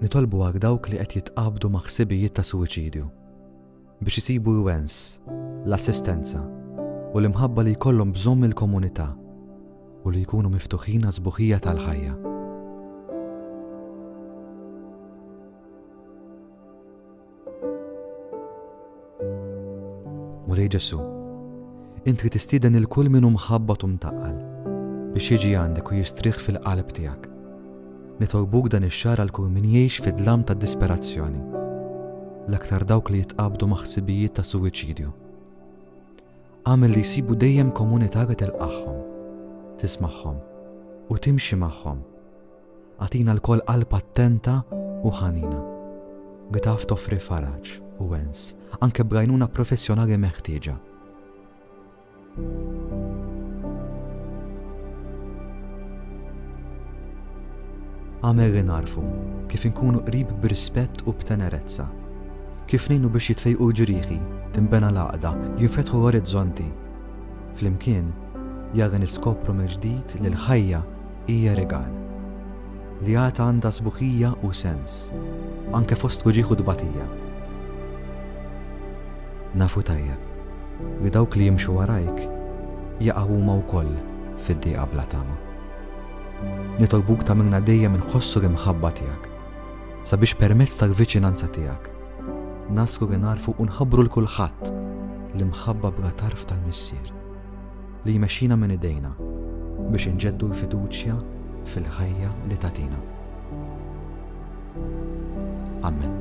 Nitolbu għal dawk li qed jitqabdu ma' ħsibijiet ta' suwiċidju biex isibu l-wens, l-assistenza, u l-imħabba li jkollhom bżonn mill-komunità u li jkunu miftuħin għas-sbuħija tal-ħajja. Mulej Ġesu, Int li tistieden il kull min hu mħabbat u mtaqqal biex jiġi għandek u jistrieħ fil-qalb tiegħek. Nitolbuk dan ix-xahar għal kull min jgħix fid-dlam tad-disperazzjoni, l-aktar dawk li jitqabdu ma' ħsibijiet ta' suwiċidju. Għamel li jsibu dejjem komunità li telqagħhom, tismagħhom u timxi magħhom Agħtina lkoll qalb attenta u ħanina li taf toffri faraġ u wens, anke b'għajnuna professjonali meħtieġa. Għamel li narfu kif inkunu qrib b'rispett u b'tenerezza. Kif nejnu biex jitfejqu ġrieħi, timbena l-għaqda, jinfetħu l-orizzonti. Flimkien, jara niskopru mill-ġdid li l-ħajja Hija rigal li għad għandha sbuħija u sens, anke fost uġigħ u tbatija. Nafu tajjeb li dawk li jimxu warajk jaqgħu huma wkoll fid-dieqa bla tama. Nitolbuk ta' minna dejjem inħossu l-imħabba tiegħek sabiex permezz tal-viċinanza tiegħek naslu li narfu u nħabbru l kulħadd l-imħabba bla tarf tal-Missier. li jmexxina minn idejna biex inġeddu l-fiduċja fil-ħajja li tagħtina. Amen.